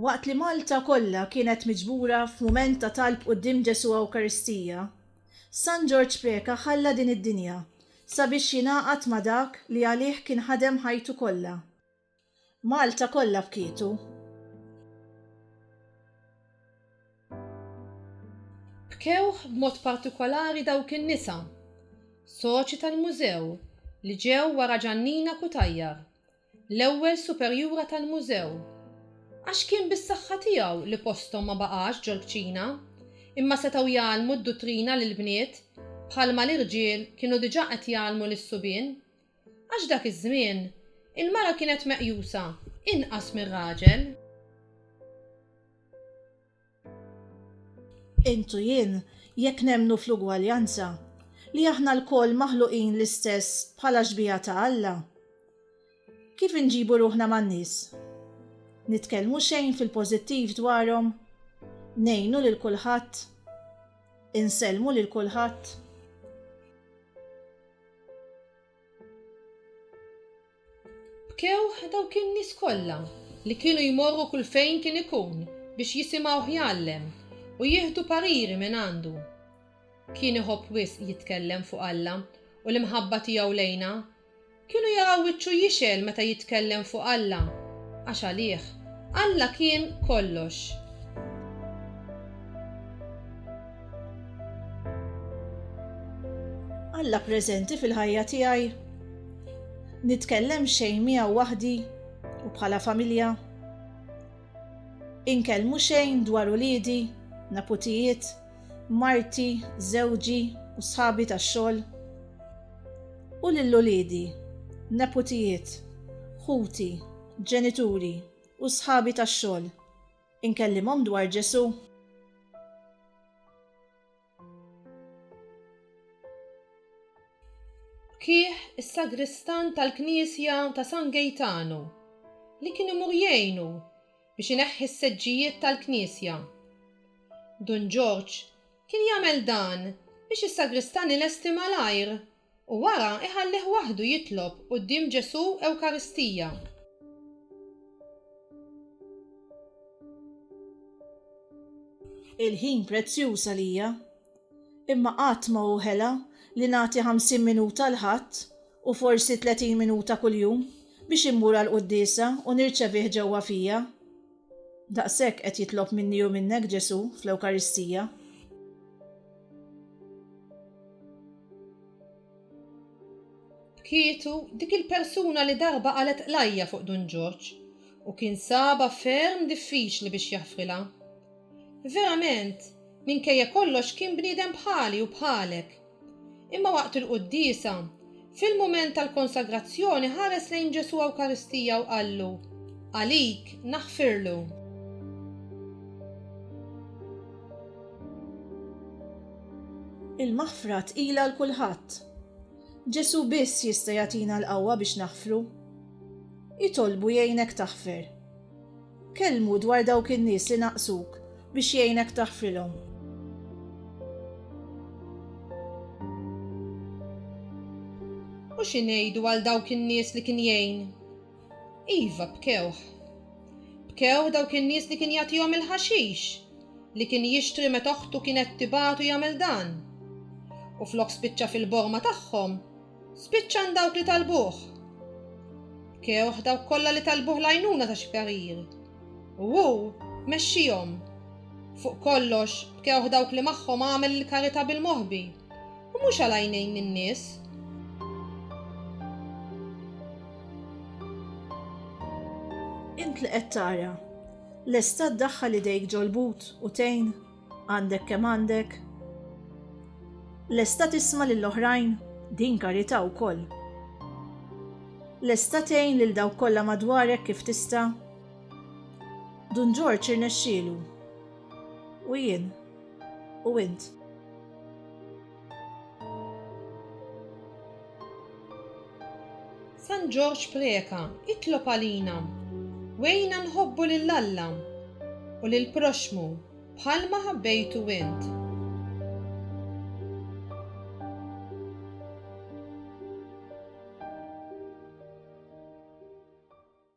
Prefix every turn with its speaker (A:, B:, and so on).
A: Waqt li Malta kollha kienet miġbura f'mument ta' talb quddiem Ġesù Ewkaristija, San Ġorġ Preca ħalla din id-dinja sabiex jingħaqad ma' dak li għalih kien ħadem ħajtu kollha. Malta kollha bkietu.
B: Bkew b'mod partikolari dawk in-nisa, soċi tal-Mużew, li ġew wara Ġannina Cutajar, l-ewwel superjura tal-Mużew, għax kien bis-saħħa tiegħu li posthom ma baqax ġol-kċina, imma setgħu jgħallmu d-duttrina lill-bniet bħalma l-irġiel kienu diġà qed jgħallmu lis-subien. Għax f'dak iż-żmien, il-mara kienet meqjusa inqas mir-raġel.
A: Int u jien, jekk nemmnu fl-ugwaljanza, li aħna lkoll maħluqin l-istess bħala xbieha ta' Alla, kif inġibu ruħna man-nies? Nitkellmu xejn fil-pożittiv dwarhom? Ngħinu lil kulħadd? Insellmu lil kulħadd?
B: Bkew dawk in-nies kollha li kienu jmorru kull fejn kien ikun biex jisimgħuh jgħallem u jieħdu pariri minn għandu. Kien iħobb wisq jitkellem fuq Alla u l-imħabba tiegħu lejna. Kienu jaraw wiċċu jixgħel meta jitkellem fuq Alla, għax għalih, Alla kien kollox.
A: Alla preżenti fil-ħajja tiegħi? Nitkellem xejn miegħu waħdi u bħala familja? Inkellmu xejn dwar uliedi, neputijiet, marti, żewġi u sħabi tax-xogħol? U lil uliedi, neputijiet, ħuti, ġenituri u sħabi tax-xogħol? Inkellimhom dwar Ġesù.
B: Kih is-sagristan tal-knisja ta' San Gejtanu, li kien imur jgħinu biex ineħħi s-seġġijiet tal-knisja. Dun Ġorġ kien jagħmel dan biex is-sagristan ilesti malajr U wara iħallih waħdu jitlob quddiem Ġesù Ewkaristija.
A: Il-ħin prezzjuż għalija. Imma qatt ma hu ħela li nagħti ħamsin minuta l-Ħadd, u forsi tletin minuta kuljum, biex immur għall-quddiesa u nirċevih ġewwa fija. Daqshekk qed jitlob minni u minnek Ġesù fl-Ewkaristija.
B: B'kietu, dik il-persuna li darba qalgħet qlajja fuq Dun Ġorġ u kien sabha ferm diffiċli biex jaħfrilha. Verament, minkejja kollox kien bniedem bħali u bħalek, Imma waqt il-quddiesa, fil-mument tal-konsagrazzjoni ħares lejn Ġesù Ewkaristija u qallu, Għalik naħfirlu.
A: Il-maħfra tqila għal kulħadd. Ġesù biss jista' jagħtina l-qawwa biex naħfru. Itolbu jgħinek taħfer. Kellmu dwar dawk in-nies li naqsuk biex jgħinek taħfrilhom.
B: U xi ngħidu għal dawk in-nies li kien jgħin? Iva, bkewh. Bkew dawk in-nies li kien jagħtihom il-ħaxix li kien jixtri meta oħtu kienet tibagħtu jagħmel dan. U flok spiċċa fil-borma tagħhom, Spiċċan dawk li talbuh. Kewħ dawk kollha li talbuh l-għajnuna ta' xi parir. U hu mexxihom. Fuq kollox, b'kewħ dawk li magħhom għamel il-karità bil-moħbi, u mhux għal għajnejn in-nies.
A: Int li qed tara, lesta ddaħħal idejk ġol-but u tgħin? Għandek kemm għandek? Lesta tisma' lil oħrajn? Din karità wkoll. Lesta tgħin lil dawk kollha madwarek kif tista'? Dun Ġorġ irnexxielu. U jien? U int?
B: San Ġorġ Preca, itlob għalina, wegħinna nħobbu lil Alla u lill-proxxmu bħalma ħabbejtu int.